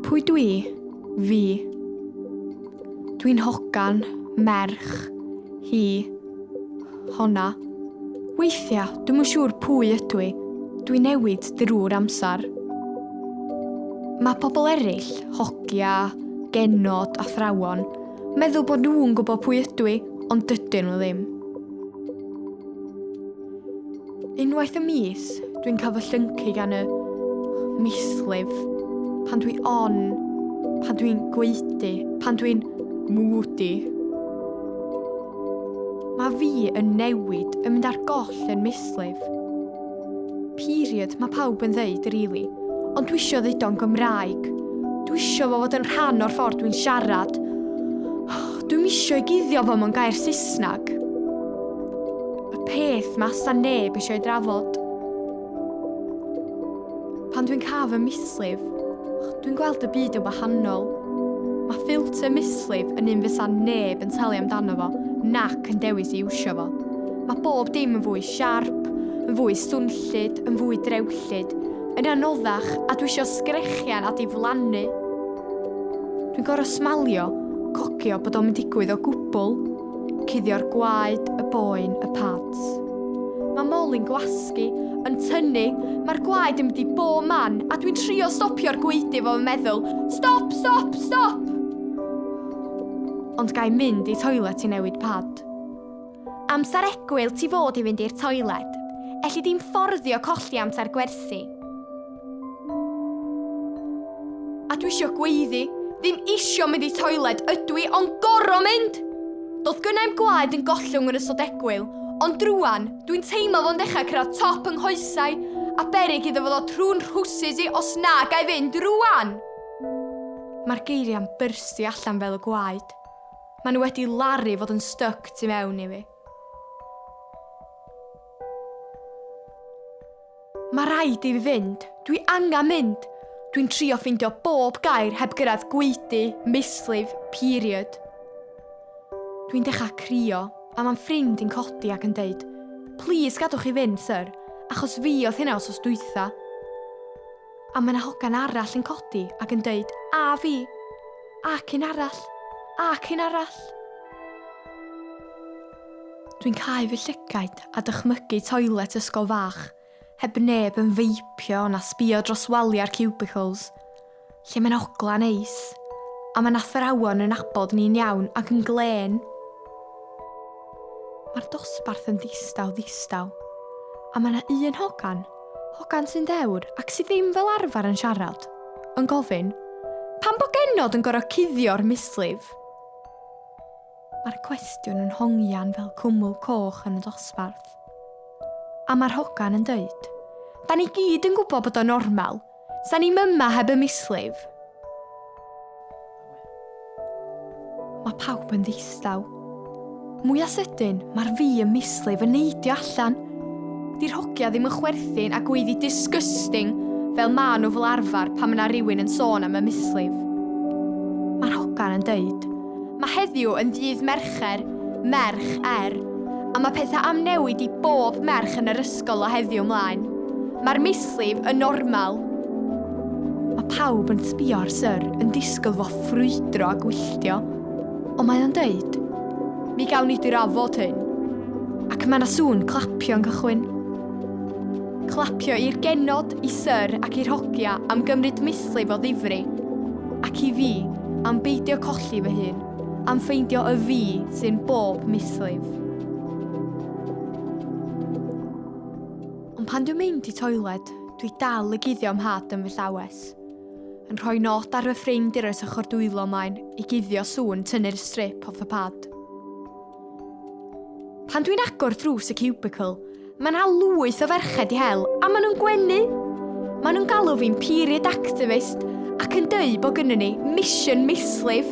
Pwy dwi? Fi. Dwi'n hogan, merch, hi, honna. Weithiau, dwi'n yn siŵr pwy ydw i. Dwi'n newid drwy'r amser. Mae pobl eraill, hogia, genod, athrawon, Meddwl bod nhw'n gwybod pwy ydw i, ond dydyn nhw ddim. Unwaith y mis, dwi'n cael fy llyncu gan y mislif pan dwi on, pan dwi'n gweithdy, pan dwi'n mwdi. Mae fi yn newid, yn mynd ar goll yn mislif. Period, mae pawb yn ddeud rili. Ond dwisio ddudo'n Gymraeg. Dwisio fo fod yn rhan o'r ffordd dwi'n siarad. Dwi'm isio i guddio fo mewn gair Saesneg. Y peth mae asa neb eisiau ei drafod. Pan dwi'n cael fy mislif, dwi'n gweld y byd yn wahanol. Mae ffilter mislif yn un fysa neb yn talu amdano fo, nac yn dewis i iwsio fo. Mae bob dim yn fwy Siarp, yn fwy swnllyd, yn fwy drewllyd, yn anoddach, a dwi isio sgrechian a diflannu. Dwi'n gorfod smalio, cogio bod o'm yn digwydd o gwbl. Cuddio'r gwaed, y boen, y pads. Mae Molly'n gwasgu, yn tynnu, mae'r gwaed yn mynd i bob man, a dwi'n trio stopio'r gwaedu fo fy meddwl, Stop, stop, stop! Ond ga i mynd i toilet i newid pad? Amser egwyl ti fod i fynd i'r toiled. Elli di'm fforddio colli amser gwersi. A dwi isio gweiddi, ddim isio mynd i toiled ydw i ond gor'o' mynd! Do'dd gynnau'm gwaed yn gollwng yn ystod egwyl, ond rŵan, dwi'n teimlo fo'n dechra' cyrraedd top yng nghoesau, a beryg iddo fo ddod trw'n nhrwsus i os na ga' i fynd rŵan! Mae'r geiriau'n byrstio allan fel y gwaed. Maen nhw wedi laru fod yn styc tu mewn i fi. Mae rhaid i fi fynd. Dwi angen mynd. Dwi'n trio ffeindio bob gair heb gyrraedd gweidi, mislif, period. Dwi'n dechrau crio, a mae'n ffrind i'n codi ac yn deud, Please gadwch chi fynd, sir, achos fi oedd hynna os os dwytha. A mae 'na hogan arall yn codi ac yn deud, A fi! Ac un arall! Ac un arall! Dwi'n cael fy llygaid a dychmygu toilet ysgol fach, heb neb yn feipio na sbio dros waliau'r cubicles, lle mae'n ogla neis, a mae'n athrawon yn abod ni'n iawn ac yn glên. Mae'r dosbarth yn ddistaw ddistaw, a mae yna un hogan Hogan sy'n ddewr ac sydd ddim fel arfer yn siarad, yn gofyn, Pam bod genod yn gorfod cuddio'r mislif? Mae'r cwestiwn yn hongian fel cwmwl coch yn y dosbarth. A mae'r hogan yn dweud, Da ni gyd yn gwybod bod o'n normal, Sa ni'm yma heb y mislif. Mae pawb yn ddistaw. Mwy a sydyn, mae'r fi y mislif yn neidio allan. Di'r hogia ddim yn chwerthin a gweiddi disgusting fel ma nhw fel arfer pan mae yna rhywun yn sôn am y mislif. Mae'r hogan yn deud, Mae heddiw yn ddydd Mercher, Merch, er, a mae pethau am newid i bob merch yn yr ysgol o heddiw mlaen. Mae'r mislif yn normal. Mae pawb yn sbio ar Syr yn disgwyl fo ffrwydro a gwylltio, ond mae o'n dweud, Mi gawn ni drafod hyn. Ac mae yna sŵn clapio yn cychwyn. Clapio i'r genod, i Syr ac i'r hogia am gymryd mislif o ddifri. Ac i fi, am beidio colli fy hun, am ffeindio y fi sy'n bob mislif. Ond pan dwi'n mynd i toiled, dwi dal y guddio am had yn fy llawes. Yn rhoi nod ar fy ffrind i'r ys ochr dwylo maen i guddio sŵn tynnu'r strip off y pad. Pan dwi'n agor drws y cubicle, mae yna lwyth o ferched i hel a maen nhw'n gwenu! Maen nhw'n galw fi'n period activist ac yn dweud bod gynnu ni mission mislif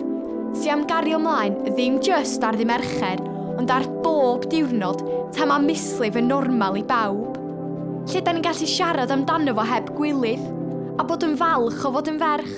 sy'n am gario ymlaen ddim just ar ddi Mercher ond ar bob diwrnod ta mae mislif yn normal i bawb. Lle da ni'n gallu siarad amdano fo heb gwilydd a bod yn falch o fod yn ferch.